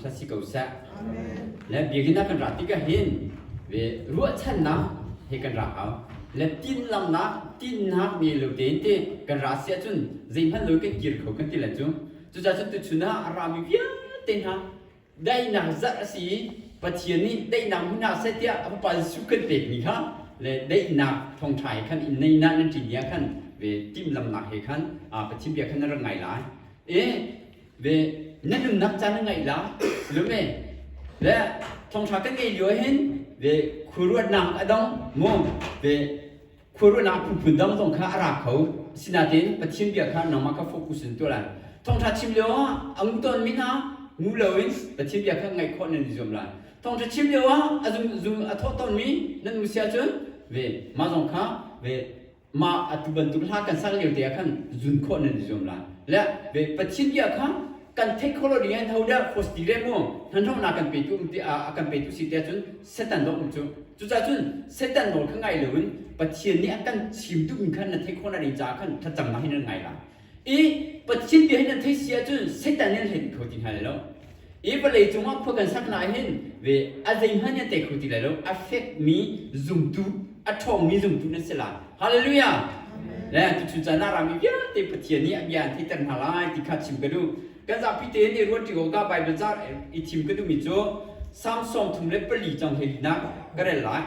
thla si ko seh. Le biakinn ah kan ra tikah hin ve ruahchannak he kan ra hau. Le tinlamnak tinhnak ne lo tein te kan ra si ahcun zeihmanh lo kan kir kho kan ti le cu. Cucaahcun tuchun ah a rami vialte hna daihnak zarh a si i Pathian nih daihnak hmu hna seh tiah a Fapa Jesuh kan pekmi kha le daihnak thawngṭha he khan in neihnak nan ṭin ni ah khan ve timhlamhnak he khan aa Pathian bia khan na rak ngai lai. E, ve na nunnak caan na ngeih la lume le thongthra kan ngei lio hin ve khuaruatnak a dong mu ve khuaruatnak phunphun dong zong kha a ra kho sinatein pathian bia kha nangmah kha focus in tuah lai thongtha chim lio ah a ngu ton min ah ngu lo in pathian bia kha ngaih khawh nan i zuam lai thongtha chim lio ah a zum zum a thawh ton mi nan nu sia cun ve ma zong kha ve mah atu bantuk hla kan sak lio te ah khan zun khawh nan i zuam la le ve pathian bia kha kan theih kho lo ding in ho dah khos ti le mu hmanhronak kan petu um te a kan petu si te cun setan lo um cu cucaah cun setan nawl kha ngai lo in pathian nih a kan chim duhmi kha na theih khawh na ding caah khan thlacamnak hi nan ngai la I Pathian bia hin an thei si ahcun Satan nih an hlei dih kho ti hna lai lo. I vawlei cungah khua kan sak lai hin ve a zeihmanh nih an tei kho ti lai lo. A fekmi zumtu, a ṭhawngmi zumtu nan si lai. Hallelujah! Le tuchun caan ah rami vialte Pathian nih a bia an theihter hna lai ti kha chim ka duh. Kan zapi tein i ruanṭi awkah Baibal car i thim ka duhmi cu Psalm sawm thum le pali cang hleilinak ka rel lai.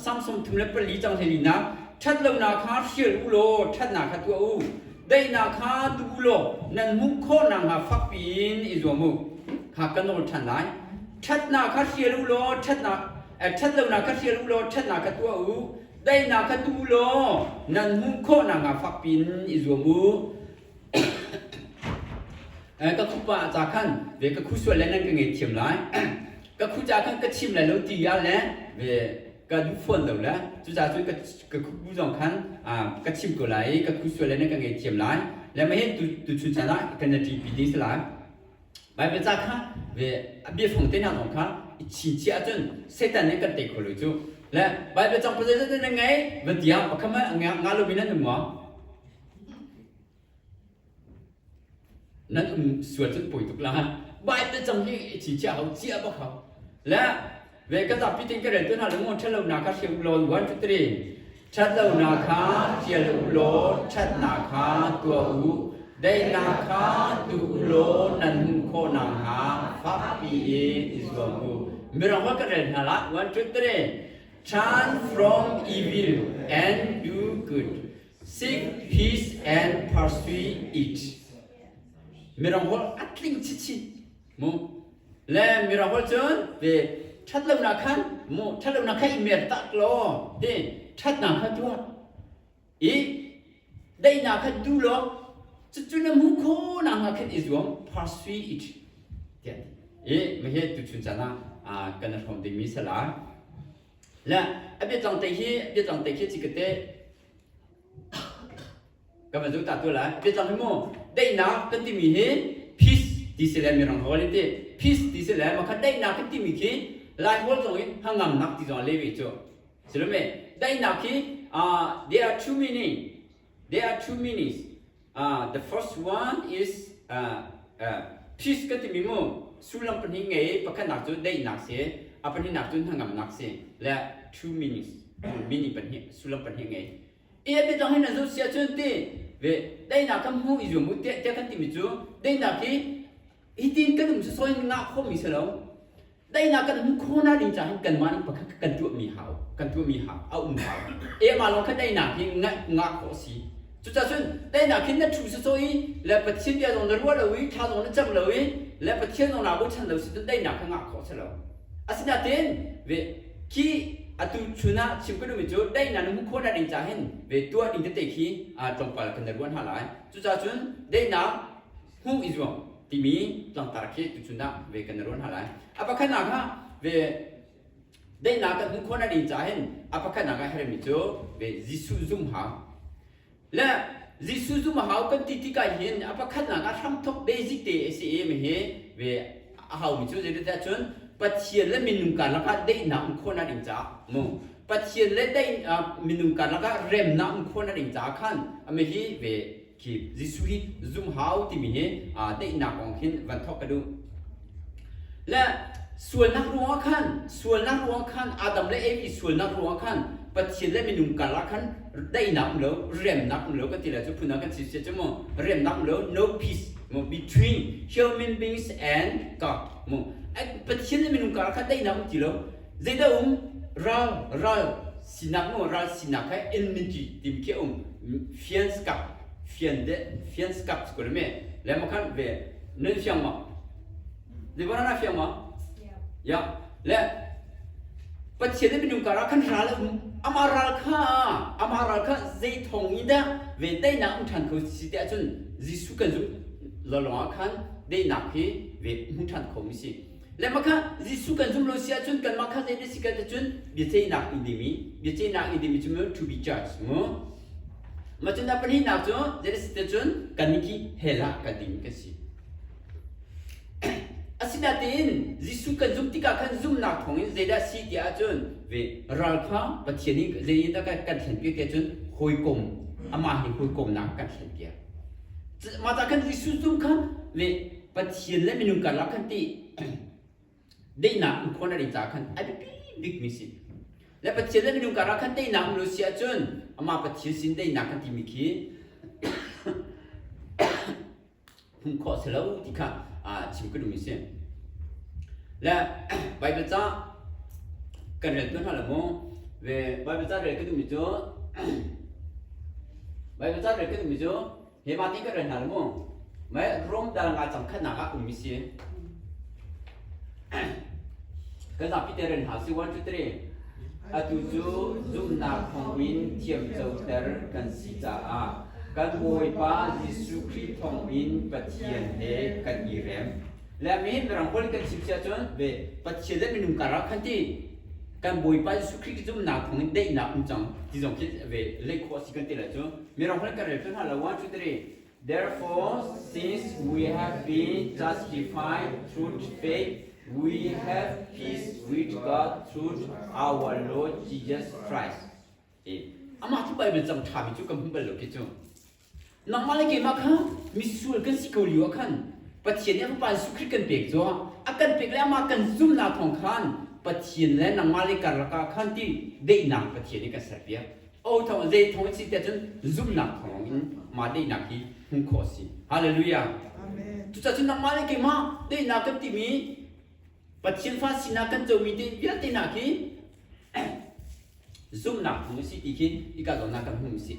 Samsung thum le pali cang hleilinak ṭhat lonak kha hrial u law ṭhatnak kha tuah u. Daihnak kha tuah u law nan hmuh khawhnak hnga fakpi in i zuam u. Kha kan nawl ṭhan lai. Ṭhatnak kha hrial u law ṭhatnak ṭhat lonak kha hrial u law ṭhatnak kha tuah u. Daihnak kha tuah u law nan hmuh khawhnak hnga fakpi in i zuam u. Ka khupa ah ca khan ve ka khu sual le nan ka ngeihthiam lai. Ka khu ca khan ka chim lai lo ti ah le ve ka duh fawn lo le cucaah cun ka ka khubu zong khan ka chim ko lai i ka khu sual le nan ka ngeihthiam lai. Le mah hin tuchun chan ah kan i ṭihpi ding si lai. Baibal ca kha ve a biafang te hna zong kha i chinchiah ahcun Satan nih kan tei kho lo cuh. Le Baibal cang pasal zetin nan ngei? va ti ah pakhat hmanh a nga lo mi nan um maw? Nan um sual cun poi tuk la ha. Bai te cang hi chi chia hau chia bak hau. Le ve ka zapi tin ka rel tu hna le ngon ṭhat lo na kha thli lawn 1 2 3 ṭhat lo na kha ṭial u law ṭhat na kha tua u dei na kha tu u law nan hmuh khawh nakhnga fakpi in i zuam u mirang hua ka rel hna la 1 2 3 turn from evil and do good Sing his and pursue it. Mirangol a tling chichi mu le mirangol cun te that lonak khan mu that lonak khan i mer tak lo te that na kha tuah i dai na kha du lo cucu na mu kho na nga khan i zuam pursue it tian i ma he tu chun cana kan hrom ding mi sala Le a biatlang te hi a biatlang te khi cikit te kan va zuk ta tu lai biatlang hi mu daihnak kan timi hi peace ti si le mirang ho li ti peace ti si le makhat daihnak kan timi khi lai pawl zong i hnangamnak ti zong le ve cu silomi daihnak hi uh, there are too many There are two meanings. Uh, the first one is uh, uh, peace ka timi mu sullam pahnih ngei pakhatnak cu daihnak si a pahnihnak cu hnangamnak si le two meanings meaning pahnih sullam pahnih ngei i mi dang hin an zoh si ahcun ti ve daihnak kan hmu i zuam u tiah tiah kan timi cu daihnak hi Hitin kan um soi ngah khomi si lo. Dainak kan hmu khona ding caah hin kanmah nih pakhat kan tuahmi hau, kan tuahmi hau, a um hau. Ema lawng kha dainak hi ngaih ngah khawh si. Cucacun dainak hin na thu sacaw i le Pathian bia zong na ruah lo i tha zong na cam lo i le Pathian zong naa bochan lo si cun dainak kha ngah khawh si lo. Asinain ve khi atu chun ah chim kan um cu dainak na hmu khona ding caah hin ve tuah ding tete khi tlawmpal kan na ruah hna lai. Cucacun dainak hmuh i zuam timi tlangtar khi tuchun ah ve kan ruan ha lai a pakhatnak ah ve daihnak kan hmuh khawh na rin ca hin a pakhatnak ah hermi cu ve Jesuh zum ha le Jesuh zum hau kan ti tika hin a pakhatnak ah hramthok basic te a si i mi hi ve a hau mi cu zeitintiah cun Pathian le minung karlak ah daihnak um khawh na rin caah mu Pathian le daih minung karlak ah remnak um khawh na rin caah khan ami hi ve Jesuh hi zumhau timi hi daihnak kong khin van thawk ka duh. Le sualnak ruangah khan sualnak ruangah khan Adam le Evi sualnak ruangah khan Pathian le minung karah khan daihnak um lo remnak um lo kan ti le cu phun ah kan si cu mu remnak um lo no peace mu between human beings and God mu Pathian le minung karah khan daihnak um ti lo zeidah um ral ral Sinak nu ral sinak he in min ti tim khi um fians kak fian de fians kak cu kul me le makhan ve nun fiang ma de banana fiang ma ya le pathian ne minung kara khan ral um ama ral kha ama ral kha zei thong i da ve tai na um than kho si te achun Jesu kan zum lolong khan dei nak hi ve mu than kho mi si Lemaka Jesuh kan zumh lo si ahcun kanmah kha zei na si kan ahcun biaceihnak in dimi biaceihnak in dimi cu mu to be judged mu mah cun pahnihnak cu zei na si cun kan nih khi hell ah kan dimi kan si asinain Jesuh kan zumh tikah khan zumhnak thawngin zeidah si ti ahcun ve ral kha Pathian in zei in dah kan thlen piak ti ahcun hawikom amah hi hawikomnak kan thlen piak mah ta khan Jesuh zumh khan ve Pathian le minung karlak khan ti deihnak um khon a ri caah khan a biapi bikmi si le Pathian le minung karah khan teinak um lo si ahcun amah Pathian sin teinak kan timi khi hum khawh si lo ti kha chim ka duhmi si le Baibal ca kan rel tuan hna la mu ve Baibal ca rel ka duhmi cu Baibal ca rel ka duhmi cu Keimah ti ka rel hna mu. Mai Rome dar nga cang khatnak ah ummi si. Kan zapi te rel hna si 1 2 3. Atu cu zumhnak thawngin thiam coter kan si caah kan Bawipa Jesuh Khrih thawngin Pathian he kan i rem. Le mihin mirang pawl kan chim si ahcun ve Pathian le minung karah khan ti kan Bawipa Jesuh Khrih zumhnak thawngin daihnak um cang ti zong khi ve leih khawh a si kan ti lah cu. Mirang holh kan rel hlun hlah lo one two three. Therefore, since we have been justified through faith, we have peace with God through our Lord Jesus Christ. Amah cu Bible cang ṭhami cu kan hmu bal lo ki cu. Nangmah le keimah kha misual kan si ko lio ah khan Pathian nih Fapa Jesuh Khrih kan pek cu a kan pek le amah kan zumhnak thawng khan Pathian le nangmah le karlak ah khan ti deihnak Pathian in kan serpiak. Otho zeitho an si tiah cun zumhnak thawng in mah daihnak hi hmuh khawh a si. Hallelujah. Cucacun nangmah le keimah daihnak kan timi Pathian fa sinak kan comi te vialte nak hi zumhnak hmu si ti khi ika zawnnak kan hmu si.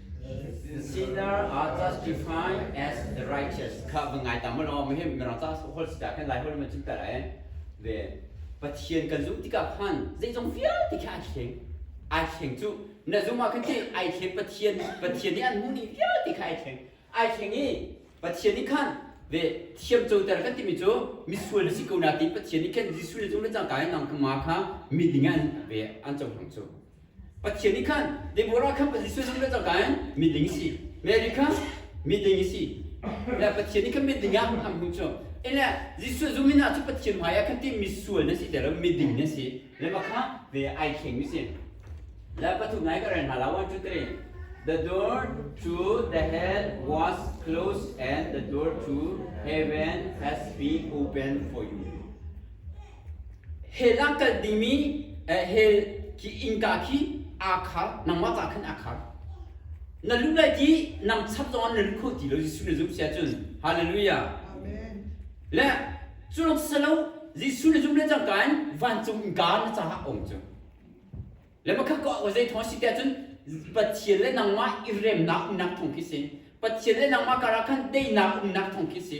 Sinner are justified as the righteous. Kha va ngai ta ma law ma hem mirang ca hol si da kan lai hol ma cim ta lai ve Pathian kan zumh tikah khan zeizong vialte kha ai thleng ai thleng cu na zung ah khan ti ai thleng Pathian Pathian nih an hmu ni vialte kha ai thleng ai thleng i Pathian nih khan ve thiam coter kan timi cu misual na si ko na tiin Pathian nih khan Jesuh le cung le cangka in nang kha ma kha mi ding an ve an cohlang cu Pathian nih khan Deborah kha Jesuh zong nih a cohlan miding a si Mary kha miding a si le Pathian nih khan miding ah a hmu cu ele Jesuh zumh in ah cu Pathian hmai ah khan timi sual na si ti miding na si le mah kha ve ai thleng mi si le pathum nai ka rel hna la one two three the door to the hell was closed and the door to heaven has been open for you Hell ah kal dingmi hell innka khi aa khar. Nangmah caah khan aa khar. Na luh lai ti nang chap zongah na luh kho ti lo. Jesuh na zumh si ahcun hallelujah. Amen. Le culong silo Jesuh na zumh le cangka in vancung innka na caah a um cu. Le makha ka ko zei thawng si ti ahcun Pathian le nangmah i remnak umnak thawng khi si. Pathian le nangmah karah khan teinak umnak thawng khi si.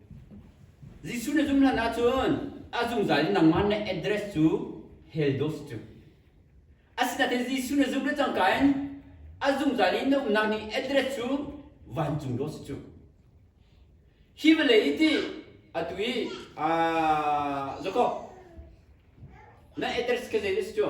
Jesuh na zum hlan ahcun a zungzal in nangmah na address cu Heldos cu a si nain Jesuh na zum le cangka in a zungzal i na umnak ni address cu vancung dawt si cu hi vawlei i ti atu i aa zakaw na address kha zei a si cu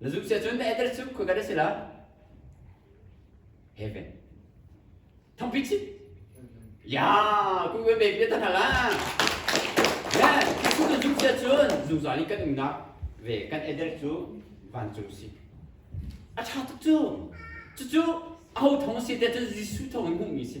Na zuk cia cun na eter cu khoikat a si lo. Heaven. Thangpi chi. Ya, ku kan ve pia tan haka. Yeah, ku na zuk cia cun zungzal in kan umnak ve kan eter cu vancung si. A tha tuk cu. Cucu aho thong si te cun Jesuh thong in hmuhmi si.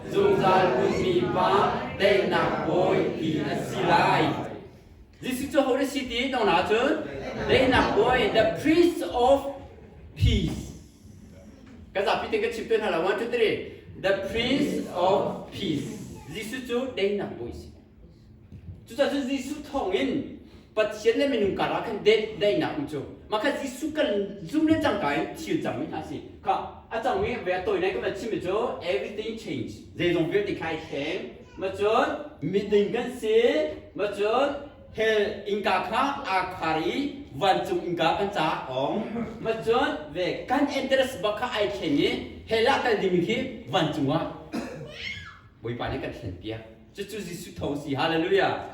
Zungzal ummi pa daihnak bawi ti na si lai. Jesuh cu hodah si ti tong na cun daihnak bawi the priest of peace. Ka zapi te ka chim te hna la one two three the priest of peace. Jesuh cu daihnak bawi si. Cucacun Jesuh thawngin Pathian le minung karah khan daihnak um cu. Mah kha Jesuh kan zum le cangka in thil cangmi hna a si. Kha a cangmi ve a tawinai kan chimmi cu everything change. Zeizong vialte kha i thleng. Macun miding kan si. Macun hell innka kha aa khar i vancung innka kan ca a ong. Macun ve kan interest bak kha ai thleng i hell ah kal ding hi vancung ah Bawipa nih kan thlenpiak. cucu Jesuh tho si hallelujah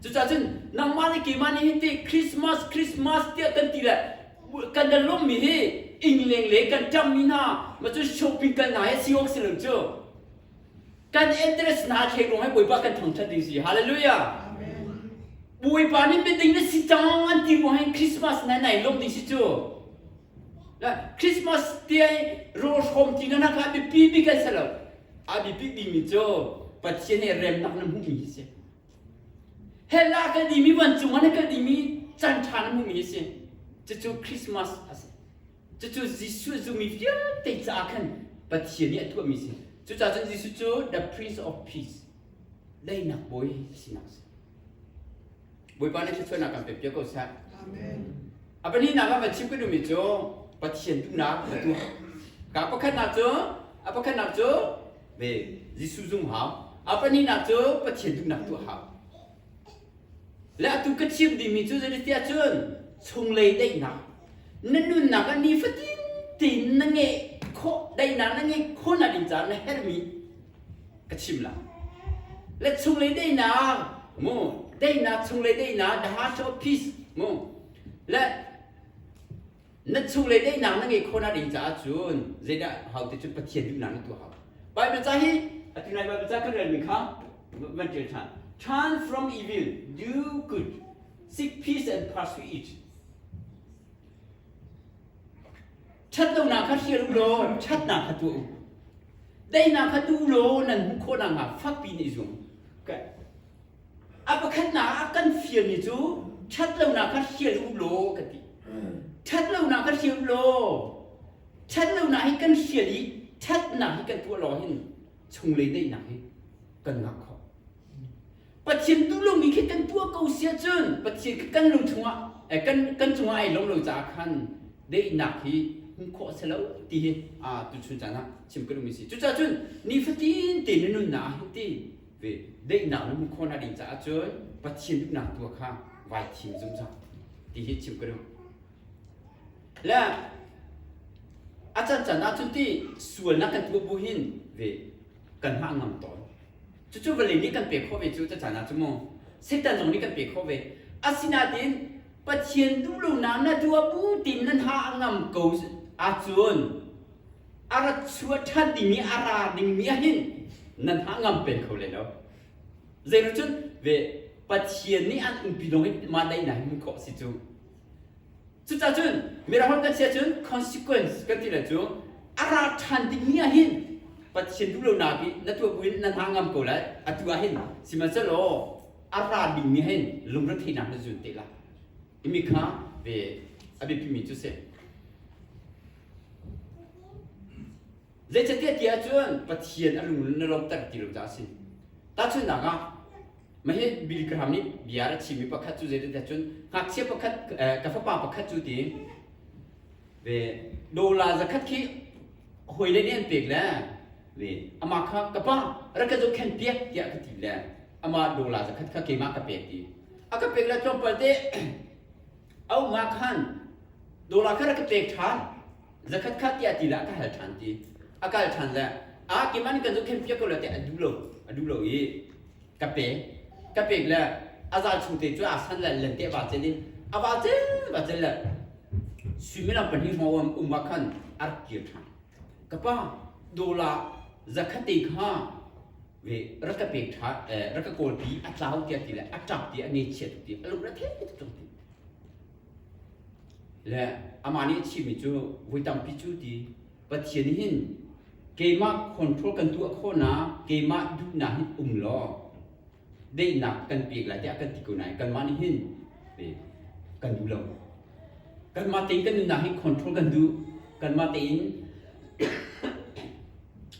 cucah cun nangmah le keimah nih hitin Christmas Christmas tiah kan ti le kan da lawmmi hi ingleng le kan ṭammi hna macun shopping kal hna hi si awk si lo cu kan address hna thlek ruang hi Bawipa kan thangṭhat ding si hallelujah Bawipa nih miding na si cang an ti ruang hin Christmas nai nai lawm ding si cu Christmas tiai ro hrom ti na nak ah bipi bik an si lo a bipi dimi cu Pathian i remnak na hmuhmi hi si hella ka dimi vancung an ka dimi can ṭha na hmuhmi hi si cucu Christmas a si cucu Jesuh zumi vialte caah khan Pathian nih a tuahmi si cucaah cun Jesuh cu the Prince of Peace leinak bawi sinak si Bawipa nih thluachuahnak kan pek piak ko seh. Amen. A pahnihnak ah va chim ka duhmi cu Pathian duhnak va tuah. Ka pakhatnak cu a pakhatnak cu ve Jesuh zung hau. A pahnihnak cu Pathian duhnak tuah hau. Le atu ka chim dihmi cu zeitiah cun chunglei daihnak na nunnak ah nifatin tein na ngeih khawh daihnak na ngeih khawhnak ding caah na herhmi ka chim la let chunglei deinak mu deinak chunglei deinak the heart of peace mu le na chunglei deinak na ngei khona ding caah cun zeidah hau te cun pathian duhnak na tuah hau Bible ca hi ati ngai Bible ca kan rel mi kha van tial than turn from evil do good seek peace and pursue it Ṭhatlonak kha hrial u law ṭhatnak kha tuah u. Teinak kha tu law nan hmuh khawh nakhnga fakpi in i zuam. Okay. A pakhatnak ah kan fialmi cu ṭhatlonak kha hrial u law ka ti. Ṭhatlonak kha hrial u law ṭhatlonak hi kan hrial i ṭhatnak hi kan tuah lawng hin chunglei daihnak hi kan ngah khawh. Pathian tulung ni khi kan tuah ko sia cun Pathian khi kan lung chungah eh, kan kan chungah ai lo lo caah khan deihnak hi hmuh khawh se lo ti hi a tuchun caan ah chim ka lungmi si cucaah cun ni fatin te na nunnak ah hin ti ve deihnak na hmuh khawh na ding caah cun Pathian duhnak tua kha vai thim zungzal ti hi chim ka lung le a can can ah cun ti sualnak kan tuah bu hin ve kan mah ngam tawn cucu vale nih kan pe khawh ve cu cacaan ah cu mu setan zong nih kan pe khawh ve asinain pathian duh lo nam na dua bu tin nan ha ngam ko ahcun a rat chua ṭhan dingmi a ra dingmi ahin nan ha ngam peng kho lai lo zeiru cun ve pathian nih an umpi lawng hi mah dai na hi khawh si cu Cucah cun mirang kan si ahcun consequence kan ti le cu a ra ṭhan dingmi ah hin Pathian duhlonak i na tuah buin na hna ngam ko lai atu ah hin sihmanhsehlaw a ra dingmi hin lungre theihnak na zun te la timi kha ve a biapimi cu si. Zeicatiah ti ahcun Pathian a lung na lawmhter ti lo caah a si. Tahchunhnak ah, mahhi Billy Graham nih bia a chimmi pakhat cu zeitintiah cun ngakchia pakhat ka fapa pakhat cu ti ve dola zakhat khi hawile nih an pek le ve amah kha ka pa rak ka zohkhen piak tiah ka ti le amah dola zakhat kha keimah ka pek ti a ka pek le tlawmpal te au nga khan dola kha rak ka pek ṭhan zakhat kha tiah ti le a ka hal ṭhan ti a kal ṭhan le a kiman kan zu khen fiak ko le tiah a duh lo a duh lo i ka pek ka pek le a zal chu te cu a san le lente va cel in a va cel va cel le suimilam pahnih hma um ah khan a rak kir ṭhan ka pa dola zakhat te kha rak ka pek ṭha rak ka kawlpi a tlau tiah ti le a ṭap ti a ngechiat tuk ti a lung retheih tuk ṭung ti le amah nih a chimmi cu voi tampi cu ti pathian hin keimah control kan tuah khawhnak keimah duhnak hin um law daihnak kan pek lai tiah kan ti ko nain kanmah nih hin kan duh lo kanmah tein kan nunnak hi control kan duh kanmah tein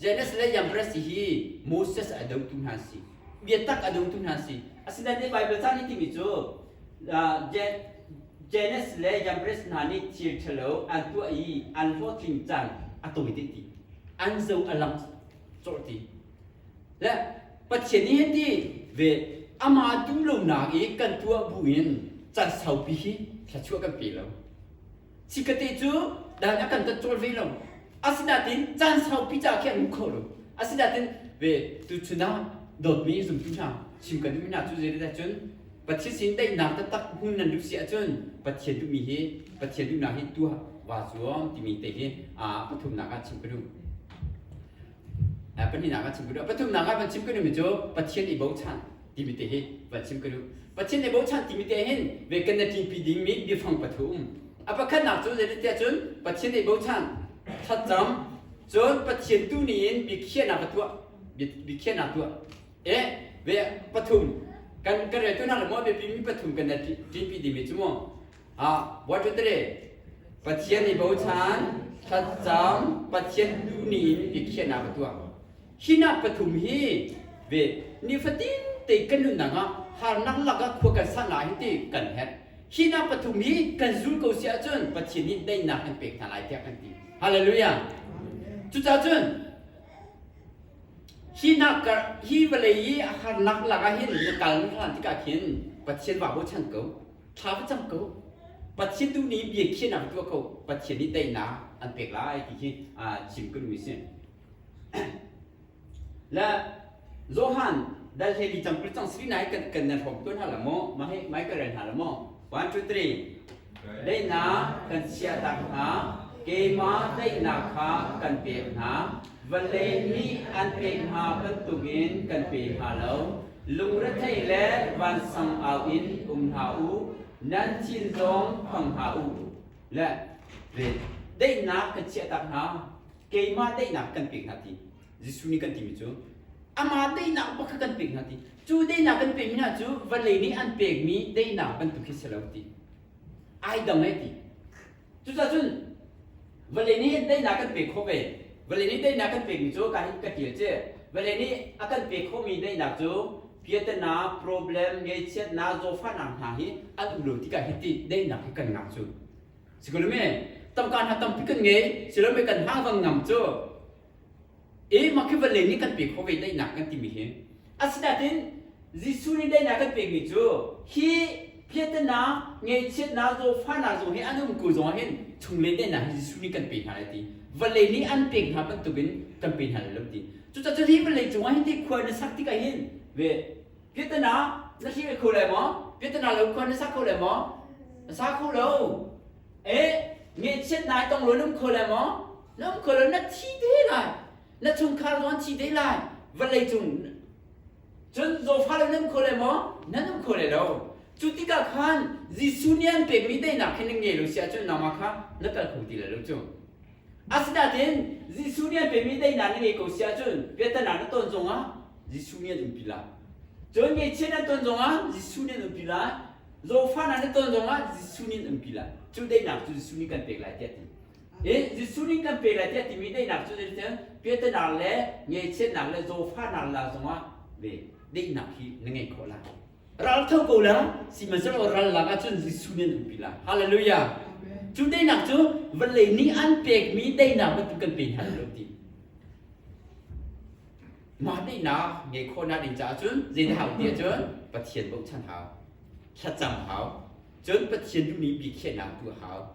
Jannes le Yambres hi Moses a dotu hna si biatak a dotu hna si asinain Baibal caan i timi cu Jannes le Yambres hna nih thil ṭhalo an tuah i an hlawhtling caan a tawi dih ti an zo a lang cawrh ti le Pathian nih hin ti ve amah duhlonak i kan tuah bu in can saupi hi thluachuah kan pe lo Sikate cu dan a kan tat cawl ve lo. Asinain caan saupi ca khi an um kho lo. Asinain ve tuchun ah dawtmi zumtu hna chim kan duhmi hna cu zeidah cun Pathian sin daihnak taktak hmun nan duh si ahcun Pathian duhmi hi Pathian duhnak hi tuah vaa zuam timi te hi aa pathumnak ah chim ka duh. pahnihnak ah chim ka duh pathumnak ah van chim ka duhmi cu Pathian i bochan timi te hi van chim ka duh Pathian i bochan timi te hin ve kan na tlingpi dingmi biafang pathu um a pakhatnak cu zeitintiah cun Pathian i bochan thatcam cun Pathian tu ni in biakhiahnak ka tuah biakhiahnak tuah e ve pathum kan kan reltu hna le maw biapimi pathum kan na tlingpi dingmi cu maw ah what three pathian i bochan thatcam pathian duhmi in biakhiahnak a tuah hinak pathum hi ve nifatin te kan nunnak ah harnak lakah khua kan san lai hi ti kan het hinak pathum hi kan zul ko si ahcun pathian nih daihnak kan pek hna lai tiah kan ti hallelujah cucaah cun hi nak kar hi vawlei i a harnak lakah hin na kal na hlan tikah khin pathian wa bochan ko Tha ka cam ko. Pathian tu nih bia khiahnak tuah ko. Pathian nih teinak an pek lai ti khi chim ka duh si. La Johan dal hlevi cam kul cang sri nai kan kan nan hrom tuan ha la mo ma he mai ka ren ha la mo 1 2 3 leina kan sia tak hna keima teina kha kan pe hna vallei nih an pe hna bantukin kan pe hna lo Lungrethei le vansang au in um hna u, nan thin zong phang hna u. Le daihnak kan chiahtak hna, keimah daihnak kan pek hna ti. Jesuh nih kan timi cu, amah daihnak bak kha kan pek hna ti. Cu daihnak kan pekmi hna cu vanlei nih an pekmi daihnak bantuk khi si lo ti. Ai dang e ti. Cucacun vale nih teinak kan pek khawh ve. Vale nih teinak kan pekmi cu ka ka ṭial cu. Vale nih a kan pek khawhmi daihnak cu piatana, problem, ngeichiatnak, zawfahnak hna hi an um lo tikah hiti daihnak hi kan ngah cu. Sikul mi, tangka hna tampi kan ngei, silole kan hngakvang ngam cu e makhivalle nih kan pek khawh ve daihnak kan timi hi asinain Jesuh nih daihnak kan pekmi cu hi phiatannak ngeihchiatnak zawfahnak zong hi an umku zong hin chungle daihnak hi Jesuh nih kan pe hna lai ti vallei nih an pek hna bantukin kan pe hna lai lo ti cucaah hi vallei cungah hin ti khua na sak tikah hin ve phiatanak na hlih ve kho lai maw phiatana lo khua na sak kho lai maw na sa kho lo e ngeihchiatnak tong lo na um kho lai maw lamkal ah na thi te lai na chungkhar zong an thi te lai vallei cung cun zawfa le nan um kho lai maw nan um kho lai lo cu tikah khan Jesuh nih an pekmi daihnak hi na ngei lo si ahcun nangmah kha na kal kho ti lai lo cu asinain Jesuh nih an pekmi daihnak na ngei ko si ahcun piattanak na ton zongah Jesuh nih an umpi lai cun ngeichiat nan ton zongah Jesuh nih an umpi lai zawfanak na ton zongah Jesuh nih an umpi lai cu daihnak cu Jesuh nih kan pek lai tiah a ti Eh Jesuh ning kan pe lai tiah timi daihnak cu zeitin Peternak le ngeichiatnak le zawfanak la zongah ve daihnak hi na ngei khawh lai. Ral tho ko la sihmanhsehlaw ral lak ahcun Jesuh nih an umpi lai. Hallelujah. Cu daihnak cu van lei nih an pekmi daihnak bantuk kan pe hna lo ti. Mah daihnak ngei khawhnak ding caah cun zeidah hau ti ahcun Pathian bochan hau, thlacam hau, cun Pathian duhmi biakhiahnak tu a hau.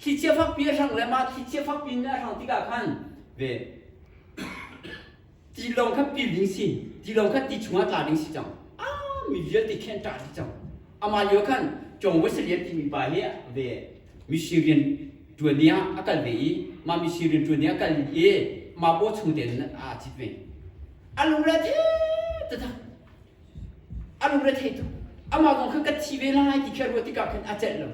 Thlichia fakpi a hrang le mah thlichia fakpi nih a hrang tikah khan ve tilawng kha pil ding si tilawng kha ti chungah tla ding si cang a mi vialte khi an tla dih cang amah lio khan John Wesley timi pa hi ve mihring rian ṭuani ah a kal ve i mah mihring rian ṭuani a kal i mah paw chung tein aa cit ve a lungre te taktak a lungre thei tuk amah kong kha ka thi ve lai ti kha ruat tikah khan a celh lo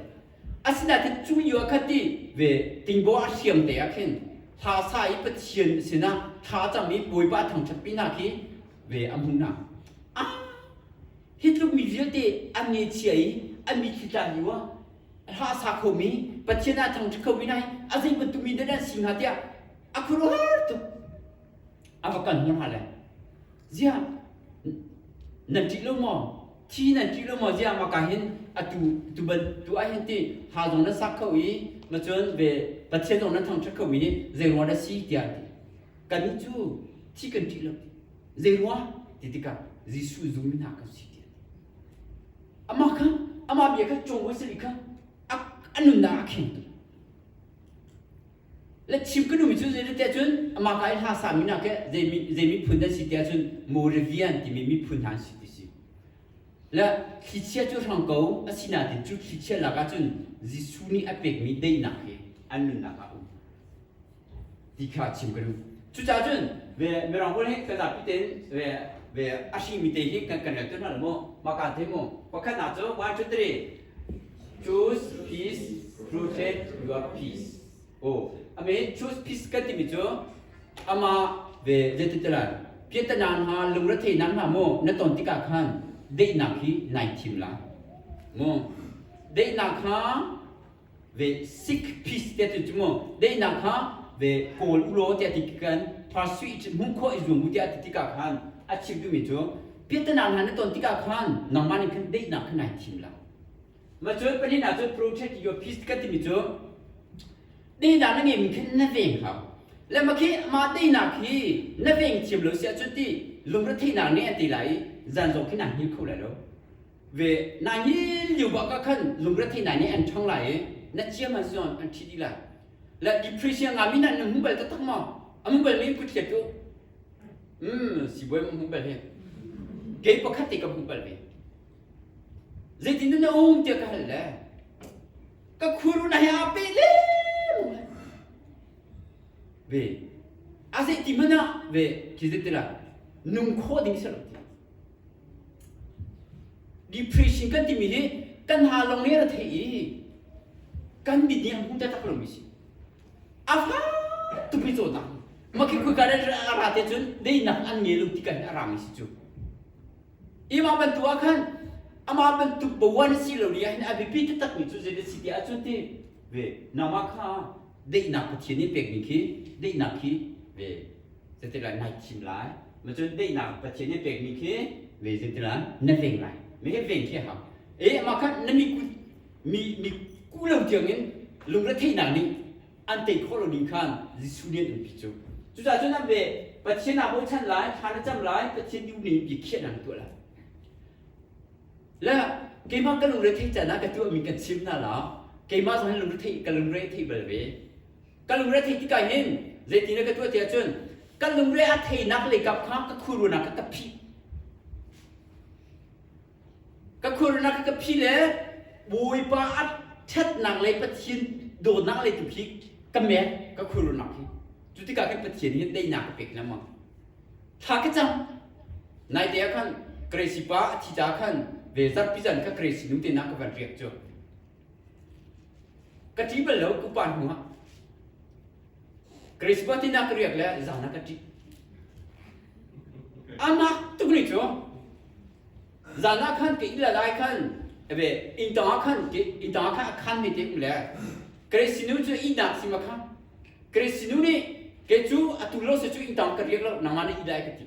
Asinain cu yu ah khan ti ve tingbaw a hriam te ah khin thla sa i Pathian sinah thla a cam i Bawipa thangṭhatmi hna khi ve a hmuh hna. Ah! Hi tluk mi vialte an ngechia i an mi khi tlan yu ah hla sa khomi Pathian ah thangṭhat khomi hna hi a zei bantuk mi dah an si hnga tiah a khuaruah tuk. A va kal hna hna lai. ziah nan ṭih lo maw thi nan ṭih lo maw ziah maka hin atu tu ban tu ah hin ti ha zong nan sak kho i macun ve pathian zong nan thangṭhat kho mi zeirua na si tiah ti kannih cu thi kan ṭih lo zeirua ti tikah Jesuh zumi hna kha si tiah amah kha amah bia kha cawng hawi sali kha a nunnak a khengtu Le chim ka numi cu zeilet tiah cun amah ka i hla sami nak i zei miphun nan si tiah cun Moravian timi miphun hna an si ti si. Le thlichia cu hrang ko a si nain cu thlichia lak ah cun Jesuh nih a pekmi daihnak hi an nunnak ah a um ti kha chim ka duh. Cucaah cun ve Mirang pawl hi kan zapi tein ve ve a hringmi te hi kan kan relter hna lo maw? Mah kaan thei mu. Pakhat na cu one two three ka timi cu amah ve zeiti te lai piatanan ha lungre theinak hna maw na ton tikah khan daihnak hi nai thim la mu daihnak kha ve sick piece te tu mu dei nak kha ve kawl u law tiah ti kan parsui ci hmu kho i zuam u tiah ti tika khan a chim tu mi cu piatana hna na ton tika khan nangmah nih khan dei nak khan nai thim lo ma cu panin a cu protect your peace ka ti mi cu dei nak na nge min khan na veng hau le ma khi ma dei nak hi na veng thiam lo sia cu ti lungre theihnak ne an ti lai zan zong khi na hngil kho lai lo ve nai ni liu bak ah khan lungrethei nai ni an ṭhang lai i na ciam han si an ṭhi dih lai la depresi nga mi nan hmu bal taktak maw a hmu bal mi pu thiat cu um sibuai ma hmu bal hi kei pakhat te ka hmu bal ve zeitin na um tiah ka hal le ka khuru na hi a pe le mu hai ve a zei ti mana ve khi zet tila nung kho ding se lo ti Depreciation kan timi hi kan ha lawng nih a ra thei i kan mit nih a hmuh taktak lomi si. A fak tukmi caw ta. Makhi khoi ka a ra te cun deinak an nge lo ti kan a rami si cu. I mah bantuk ah khan amah bantuk bawan a si lo ni ahhin a biapi taktakmi cu zei si ti ahcun ti ve nangmah kha deihnak Pathian nih pekmi khi deihnak hi ve zeitin lai na thim lai macun daihnak pathian nih pekmi khi ve zeitin lai na veng lai me he veng khi hau e mah khan na mikut mi mi ku lo tiang in lungretheihnak nih an tei khawh lo ning khan Jesuh nih an pi cu cucaah cun an ve pathian aa bochan lai thla na cam lai pathian ti nih bia khiah nan tuah lai le keimah ka lungrethei can ah ka tuahmi kan chim hna la keimah zong hin lungrethei ka lungre thei bal ve ka lungre thei tik ah hin zeitindah ka tuah tiah cun ka lungre a theinak leikap kha ka khurrunak kha ka phi ka khurrunak kha ka phi le bawipa a ṭhatnak lei pathian dawtnak lei tu khi ka met ka khurrunak hi cu tikah kan pathian hi daihnak ka pek lengmang thla ka cang naite ah khan grace pa a thi ca khan ve zarh pizan kha grace nu te na ka van riak cu Ka ṭih bal lo kupa hnuah Christmas tinak ka riak le zan ah ka ṭih. Anak tuk ni cu zan ah khan ke ila lai khan ebe inn tang ah khan ke inn tang ah khan a khan mi te um le Grace sinu cu ihnak sim kha Grace sinu nih ke cu a tu lo se cu inn tang ka riak lo nangmah na ih lai ka ti.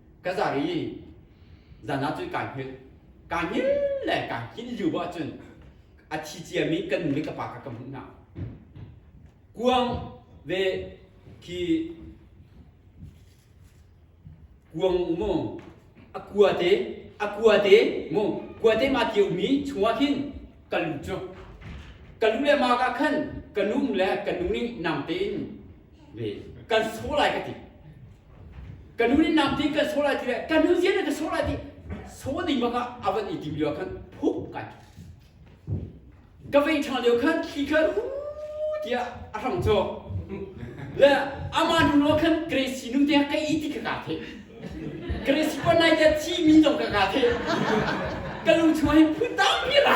ka zar i zan ah cu kai hngilh kai hngil le kai hin lu ah cun a thi ciami kan nu le ka pa kha ka hmuh hna kuang ve khi kuang mu a kua te a kua te mu kua te ma kio mi chungah khin ka lu cu ka lu le ma ka khan ka num le ka nu nih nang tein kan saw lai ka ti ka nu nih nam ding kan saw lai ti le ka nu zian ka saw lai ti saw ding bak ah a van i ti lio khan hup kai ka vei thang lio khan thli kha hu tiah a thang cho le ama nu lo khan Grace nu te ka i ti ka ka the Grace pa nai te chi mi dong ka ka the ka lu chua hin phun ta mi ra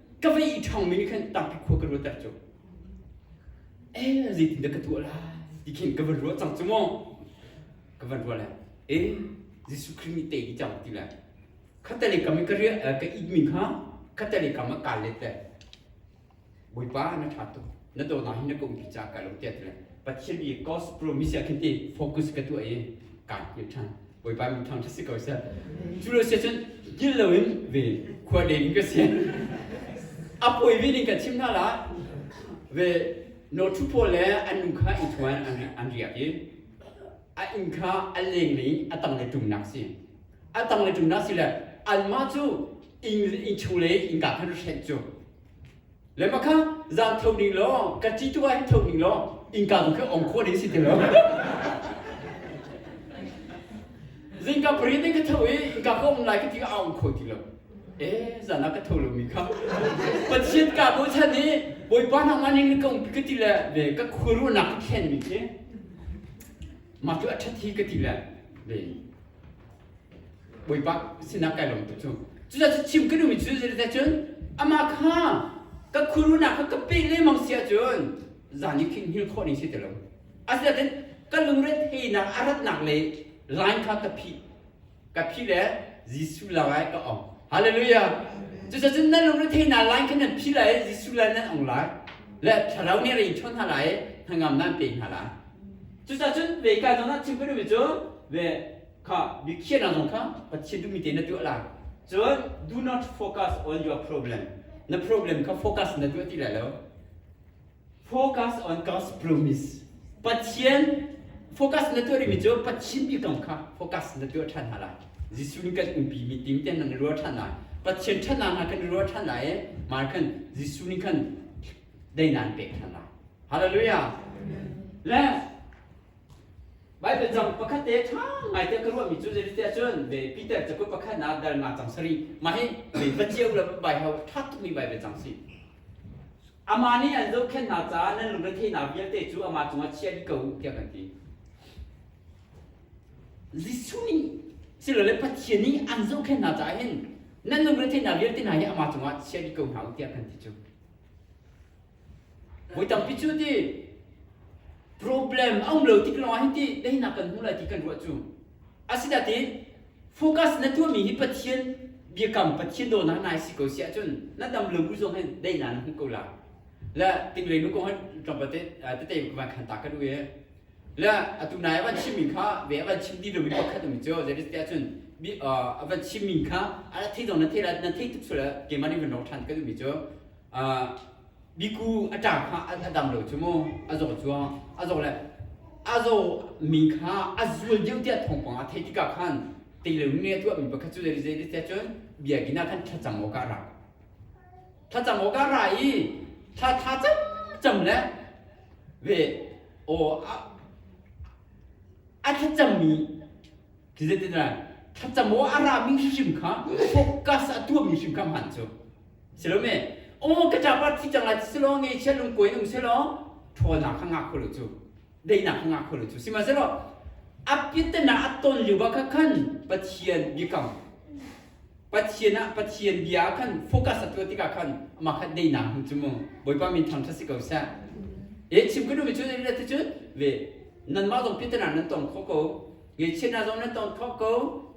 ka va ih ṭhangmi nih khan tampi khua ka ruatter cu eh zeitindah ka tuah lai ti khin ka van ruah cang cu maw ka van ruah lai eh Jesuh Khrih nih tei cang ti lai khatale kam i ka ria ka ikmi kha khatale kam ah kaa let lai Bawipa na ṭha tuk na dawtnak hi na kumpi ca ka lo tiat le pathian i gospel misia khin ti focus ka tu ai kan ni than boipa mi thang thasi ko se chu lo se chun dil lo in ve khwa le in ka se apoi vi ning ka chim na la ve no thu po le an nu kha i thuan an an riak i a in kha a leng le atang le tum nak si atang le tum nak si le an ma chu in in chu le in ka khan hren chu Le mah kha zan tho ning law ka ci tu ah hin tho ning law innka bu kha ong khua ding si ti lo zingka pariat in ka tho i innka kha om lai ka ti a ong kho ti lo e zan ah ka tho lo mi kha pathian ka bo chan i bawipa nak man ning kong ka ti le ve ka khuaru nak ka khen mi khi ma tu a that hi ka ti le ve Bawipa sinak kai lawm tuk cu. Cucaah cu chim ka duhmi cu zeite cun amah kha ka khuarunak kha ka pek lengmang si ahcun zan i khin hngilh khawh ning si ti lo. Asinain ka lungre theinak a ratnak lei line kha ka phih. Ka phih le Jesuh lawngah ka ong. Hallelujah! Cucaah cun nan lungre theinak line kha nan phih lai i Jesuh lai nan ong lai. Le thlarau nih a rinh ṭhawn hna lai i hnangam nan pe hna lai. Cucaah cun vei kai zongah chim ka duhmi cu ve kha mikhiahnak zong kha Pathian duhmi tein na tuah lai cun do not focus on your problem na problem kha focus na tuah ti lai lo focus on God's promise Pathian focus na tuah rihmi cu Pathian mi kong kha focus na tuah ṭhan hna lai Jesuh nih kan umpi mi ting te nan ruah ṭhan lai Pathian ṭhatnak hna kan ruah ṭhan lai i mar khan Jesuh nih khan dai nan pek ṭhan lai Hallelujah le Baibal cang pakhat te ṭha ngai te ka ruahmi cu zei tiah cun ve Peter cakuat pakhatnak dalnak cang sarih mah hi ve va ciau le bai hau ṭha tukmi Baibal cang si. Amah nih an zohkhenh hna caah nan lungretheinak vialte cu amah cungah chia dih ko tiah kan ti. Jesuh nih silole Pathian nih an zohkhenh hna caah hin nan lungretheinak vialte hna hi amah cungah chia dih ko hna u tiah kan ti cu. Voi tampi cu ti problem a um lo tik lawngah hi ti daihnak kan hmu lai ti kan ruah cu. Asidati focus na tuahmi hi Pathian biakam Pathian dawtnak nai si ko si ahcun na dam lo bu zong hin daihnak na hmuh ko la. La tinglei nu ko han tlawmpal te tete kuman khan ta kan u e. La atu nai avan chim min kha ve avan chim ti lomi pakhat um cu zeris ti ahcun avan chim min kha a thei dong na thei la na thei tuk sual keman in van rok than kan umi cu Miku a ṭaang kha a dam lo cu mu, a zaw cuah. A zaw le a zaw mi kha a zul deuh tiah thawngpang a theih tikah khan teilung nih a tuahmi pakhat cu zei zei tiah cun biakinn ah khan thlacam awkah a ra. Thlacam awkah a ra i thla tha camcam le ve aw a, a thlacammi Tizetinah thlacamaw a rami hrim kha focus a tuahmi hrim kha hman cu. Silome, aw ka ṭapat thi cang lai silo ngeichia lungko in um selaw ṭhawnnak kha ngah kho lo cu. Daihnak kha ngah kho lo cu. Sihmanhsehlaw a piatten ah a ton lio ah khan Pathian biakam Pathian ah Pathian bia ah khan focus a tuah tikah khan amah kha daihnak hmu cu mu. Bawipa min ṭhangṭhat si ko seh. E chim ka duhmi cu ati cun ve nanmah zong piatten ah nan tong khawh ko. Ngeichiat hna zong nan tong thawk ko.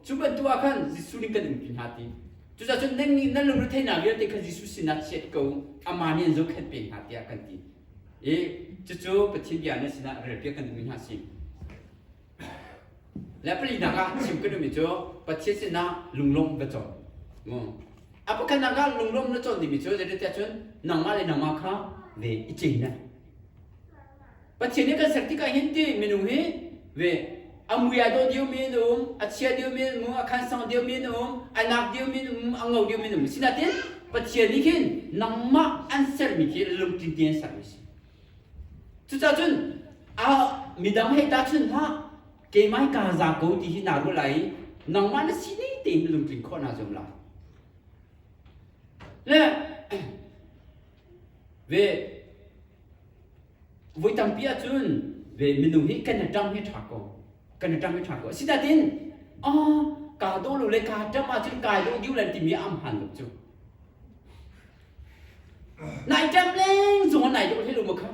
Cu bantuk ah khan Jesuh nih kan umpi hna ti. Cucaah nan nih nan lungretheihnak vialte kha Jesuh sinah chiat ko u, amah nih an zohkhenh peng hna tiah kan ti. I cucu Pathian bia nan sinah relpiak kan duhmi hna si. Le palinak ah chim kan duhmi cu Pathian sinah lunglawmh va cawn. A pakhatnak ah lunglawmh na cawn dingmi cu zeitiah cun nangmah le nangmah kha ve i cei lai. Pathian nih kan ser tik ah hin ti minung hi ve a mui a dawh dio mi an um a chia dio mi an um a khan sang dio mi an um a nak dio mi an um a ngo dio mi an um sinain Pathian nih hin nangmah an sermi khi lungtlin te an sermi si cucah cun a midang hei ta chun hlah keimah hi kaa za ko ti hi naa ruah lai i nangmah na si ne tein lungtlin khawh naa zuam lai le ve Voi tampi ahcun ve minung hi kan ṭang hi ṭha ko kan ṭang hi ṭha ko asinain oh kaa dawh lo le kaa ṭam ahcun kai dawh diu lan timi a hmaan lo cu nai ṭam leng zong nai dawh hlei lo ma kha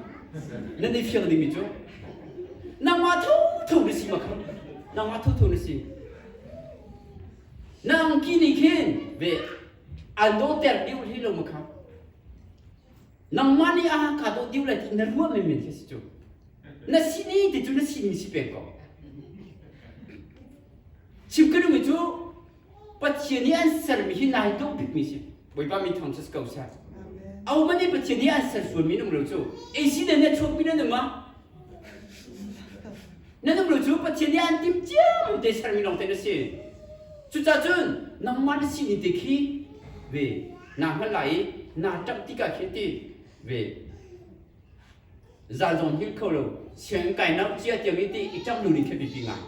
nan i fiang dingmi cu nangmah tho tho na si ma kha nangmah tho tho na si na angki nih khin ve an dawhter diu hlei lo ma kha nangmah nih a ka dawh diu lai ti na ruah menmen khi si cu na si ni ti cu na simi si pe ko chim ka nung cu pathian nih an sermi hi nai dawh bikmi si bawipa min thang chas ko sa au man nih pathian nih an ser sual mi nung lo cu ei si ne ne chuak mi na numa na nuplu cu Pathian nih an tim ciam te sermi lawng te na si cucacun nangmah na sining te khi ve naa hngal lai i naa ṭamh tikah khin ti ve zal zong hil kho lo sianginn kai nau cia tiang i ti i ṭam lu ning kha biapi ngai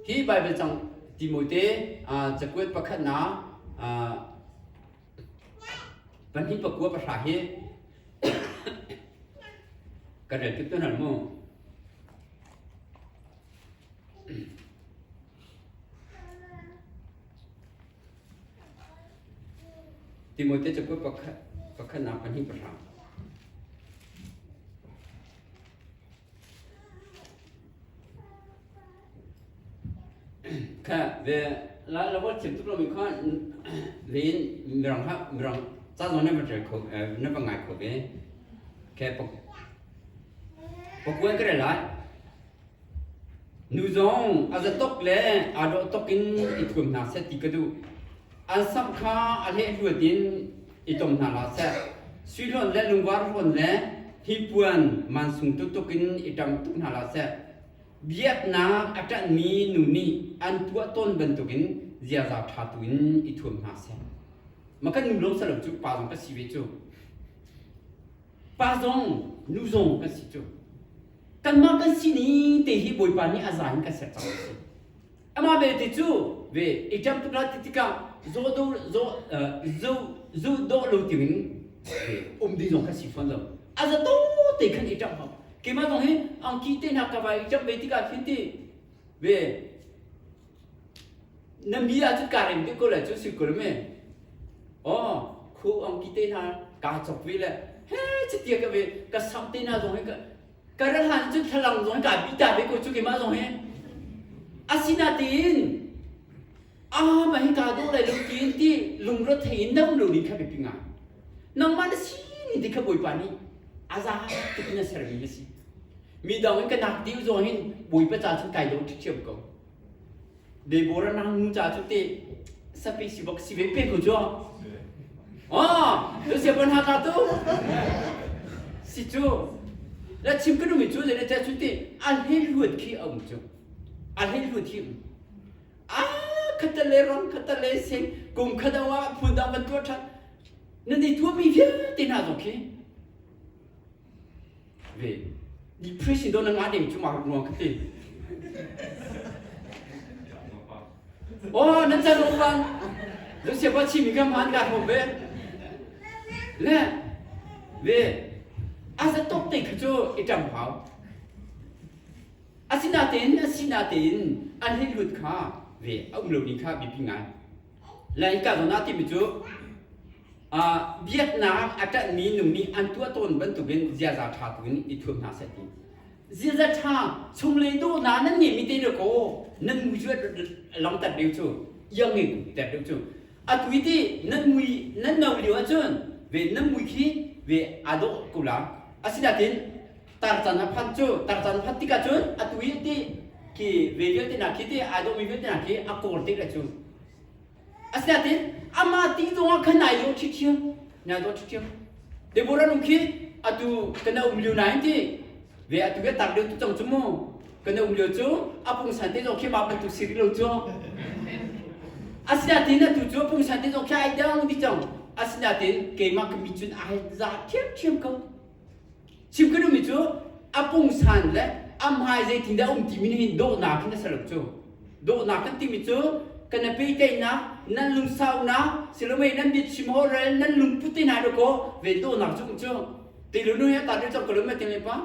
hi Baibal cang Timote cakuat pakhatnak Pahnih pakua pahra hi kan rel tuk tuan mu. Timote cakuat pakhat pakhatnak pahnih pahra. Ka ve la la wa chim tuk lo mi kha len mirang ha mirang cha zo ne ma tre kho ne ba ngai kho ve ke pa pa kuai kre lai nu zong a za tok le a do tok in i thuam hna se ti ka du an sam kha a le hluat in i tom hna la se sui hlon le lungvar hlon le hi puan man sung tu tuk in i tam tuk hna la se biaknak a ṭanhmi nu nih an tuah tawn bantukin ziaza ṭha tuin i thuam hna seh. Ma kan nu lawng salo cu pa zong ka si ve cu. Pa zong, nu zong kan si cu. Kanmah kan si ni te hi Bawipa nih a za in ka ser cang a si. Amah belte cu ve i ṭem tuk hna ti tikah zaw do zaw zu dawh lo dingin um ding zong kan si fawn lo. A za to te khan i ṭam hau. Keimah zong hi angki te hna ka vai i ṭam ve tikah khin ti ve na mi ah cu karem te ko le cu si kul me oh khu angki te hna ka chok ve le he chiti ka ve ka sam te hna zong hi ka Karahan cu thlalang zong kaa bita ve ko cu keimah zong hi. Asinain ah ma hi kaa dawh lai lo tiin ti lungro thei in nam lo ning kha biapi ngai. Nangmah na si ni ti kha Bawipa nih aza tuk na sermi na si. Mi dang in ka nak dih zong hin Bawipa caan cun kai do ṭhiṭhiam ko. Deborah nang nu ca cu te sape si bak si ve pe ko cu. Ah, tu se pan ha ka tu. Si cu. La chim ka numi cu le cha cu te a le luat khi aum cu. A le luat hi. Ah, khata le ram khata le sing kum khadawa phun dang van tua that. Nan i tua mi vialte na zo khi. ve depress in don nga ding chumang nuang kati oh nan tar rom ban don se ba chi mi gam han ka hom ve le ve as a top te khu chu itam hau asina tein asina tein an hin lut kha ve a um lo ni kha bipi ngai lai ka zona ti mi chu biaknak a ṭanhmi nung nih an tuah tawn bantukin ziaza ṭha buin i thuam hna seh ti. Ziaza ṭha chunglei dawh hna nan ngeimi te deuh kaw nan mui cu long tat deuh cu iang ngin tet deuh cu atu ti nan mui nan no lio ahcun ve nan mui khi ve aa dawh ko la asinain tar can a phan cu tar can phan tikah cun atu i ti khi ve vialte hna khi ti aa dawhmi vialte hna khi a kawr te le cu asiatin ama ti zongah khan nai lo ṭhithiam nai do ṭhithiam Deborah nu khi atu kana um liu nai ti ve atu ve tar liu tu cang chu mu kana um liu chu apung san te zong khi ma bantu siri lo chu asiatin atu chu apung san te zong khi ai dang di cang asinatin keimah kami cun ai za thiam thiam ko Chim ka duhmi cu a pungsan le a hmai zeitindah a um timi nih hin dawhnak in a ser cu dawhnak kan timi cu kan a pehteinak nan lungsaunak silomei nan biachim orel nan lungput te hna dawkaw ve dawhnak cu um cu ti lu nu hi a tar deuh cang ko lo me te me pa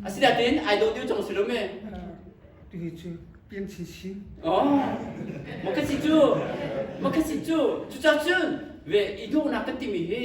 asinain ai dawh deuh cang si lo me tihi cu pian chin sin oh ma ka si cu ma ka si cu cucacun ve i dawhnak kan timi hi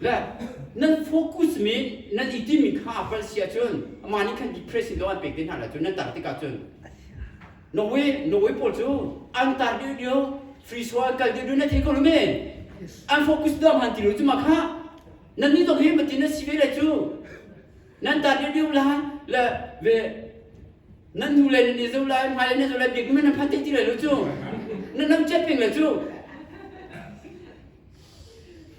Le nan focus mi nan i timmi kha a palh si ahcun amah nih khan depressing law an pek te hna lah cun nan tar tikah cun Norway Norway pawl cu an tar dih lio free so an kal dih lio nan thei kho lo mi an focus dang han ti lo cu ma kha nan nih zong hi matin nan si ve le cu nan tar dih lio la le ve nan nu le nan zo lai hmai le nan zo lai biak mi nan phan thei ti lai lo cu nan nam chet peng le cu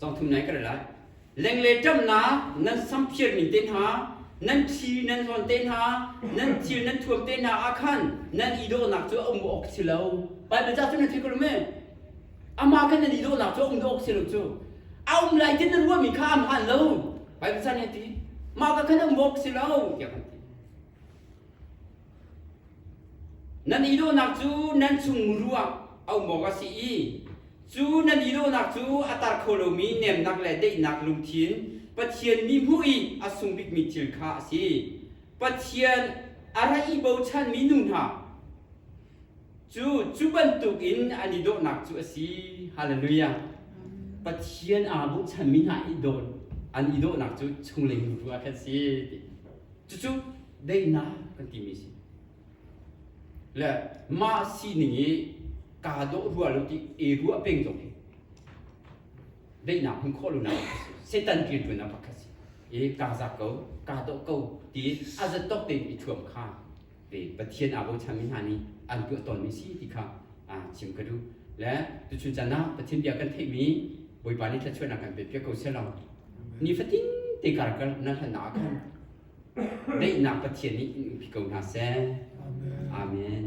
Cangthum nai ka lai. Lengle ṭamnak nan samphir ning te hna, nan thi nan hlawn te hna, nan thil nan thuam te hna ah khan nan idawhnak cu a um awk si lo. Baibal ca cu nan theih ko lam Amah khan nan idawhnak cu a um awk si lo cu. A um lai ti na ruahmi kha an hlan lo. Baibal ca nih a ti. Mah kha khan a um awk si lo tiah kan ti. Nan i dawhnak cu nan chung ruang a um awk a si i cu nan i dawhnak cu a tar kho lomi nemnak le daihnak lungthin Pathian mi hmuh i a sung bikmi thil kha a si. Pathian a ra i bochanmi nu hna cu cu bantukin an i dawhnak cu a si. Halleluja! Pathian aa bochanmi hna i dawh an i dawhnak cu chunglei muru ah khan a si. ti. Cucu daihnak kan timi si. Le mah sining i kaa dawh rua lo ti e rua peng zong hi daihnak hmun khawh lonak Satan ṭilṭuannak pakhat si. I kaa zak ko, kaa dawh ko ti a zatawk tein i thuam kha le Pathian aa bochanmi hna nih an tuah tawnmi si ti kha chim ka duh. Le tuchun caan ah Pathian bia kan theihmi Bawipa nih thluachuahnak kan pepiak ko selaw nifatin te kar nan hlannak ah khan daihnak Pathian nih in umpi ko hna seh. Amen.